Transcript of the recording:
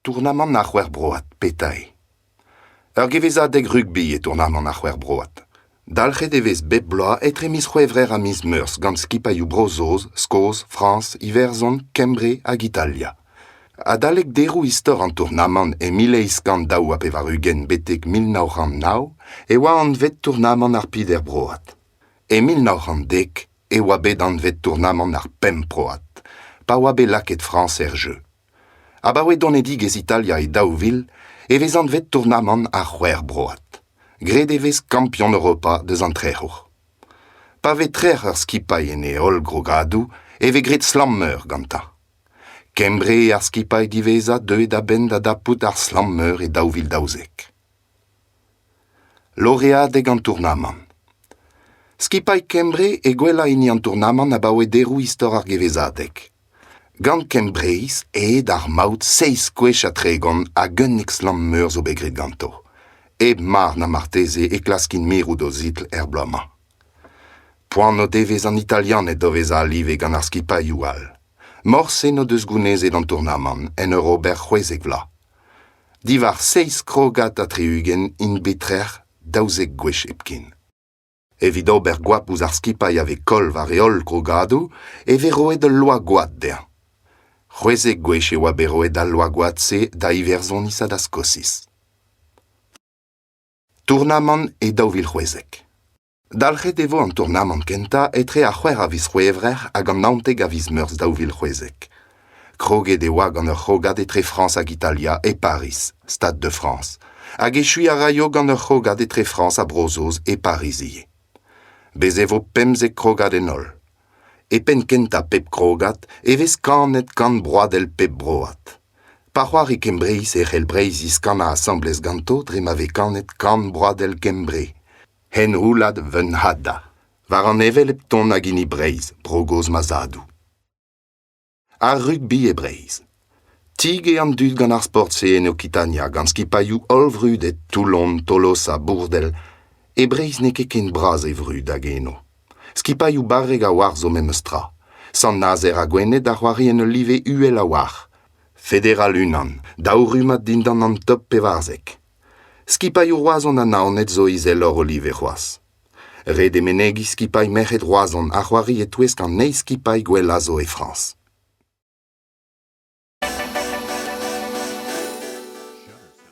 Tournamant ar c'hwec'hbroad petañ eo. Ur gevezadeg rugbi eo tournamant ar c'hwec'hbroad. Dalc'het e vez bep bloaz etre miz C'hwevrer ha miz Meurzh gant skipailhoù Bro-Saoz, Skos, Frañs, Iwerzhon, Kembre hag Italia. Adalek deroù istor an tournamant e mil eizh kant daou ha pevar-ugent betek mil nav c'hant nav e oa anvet tournamant ar Piderbroad. E mil nav c'hant dek e oa bet anvet tournamant ar Pemp Broad pa oa bet lakaet Frañs er jeu. Abaoe donedigezh Italia e daou vil e vez anvet tournamant ar C'hwec'h Broad. Graet e vez kampion Europa deus an trec'hour. Pa vez trec'h ur skipailh en e holl grogadoù e vez graet slam-meur gantañ. Kembre ar skipailh diwezhañ deuet a-benn da dapout ar slamm-meur e daou vil daouzek. Loreadeg an tournamant Skipailh Kembre e gwellañ hini an tournamant abaoe deroù istor ar gevezadeg. Gant Kembreiz aet ar maout seizh gwech ha tregont hag unnek slamm-meur zo bet graet ganto. Hep mar na marteze e klaskin mirout o zitl er bloaz-mañ. Poan o devez an Italianed o vezañ live gant ar skipailhoù all. Morse n'o deus gounezet an tournamant en ur ober c'hwezek vloaz. Diwar seizh krogad ha tri-ugent int bet trec'h daouzek gwech hepken. Evit ober goap ouzh ar skipailh a vez koll war e holl grogadoù e vez roet ul loa-gwad dezhañ. C'hwezek gwech e oa bet roet al loa-gwad-se da Iwerzhoniz ha da Skosiz. Tournamant e daou vil c'hwezek. Dalc'het e vo an tournamant kentañ etre ar c'hwec'h a viz C'hwevrer hag an naontek a viz Meurzh daou vil c'hwezek. Kroget e oa gant ur c'hrogad etre Frañs hag Italia e Pariz, Stade de France, hag echuiñ a raio gant ur c'hrogad etre Frañs ha Bro-Saoz e Pariz ivez. Bez e vo pemzek krogad en holl. E penn kentañ pep krogad e vez kanet kant broadell pep broad. Pa c'hoari Kembreiz e c'hell Breizh ziskannañ asambles ganto dre ma vez kanet Kan broadel Kembre, henroulad Vunhada, war an hevelep ton hag hini Breizh, bro gozh ma zadoù. Ar rugby e Breizh. Tig eo an dud gant ar sport-se en Okitania, gant skipailhoù hollvrudet Toulon, Tolosa, Bourdel. E Breizh n'eo ket ken bras e vrud hag eno. Skipailhoù barrek a-walc'h zo memestra. Sant-Nazer ha Gwened a c'hoari en ul live uhel a-walc'h. Federal unan, daou rummad dindan an top pevarzek. Skipailhoù Roazhon ha Naoned zo izeloc'h o live c'hoazh. Ret eo menegiñ skipailh merc'hed Roazhon a c'hoari e-touesk an eizh skipailh gwellañ zo e Frañs.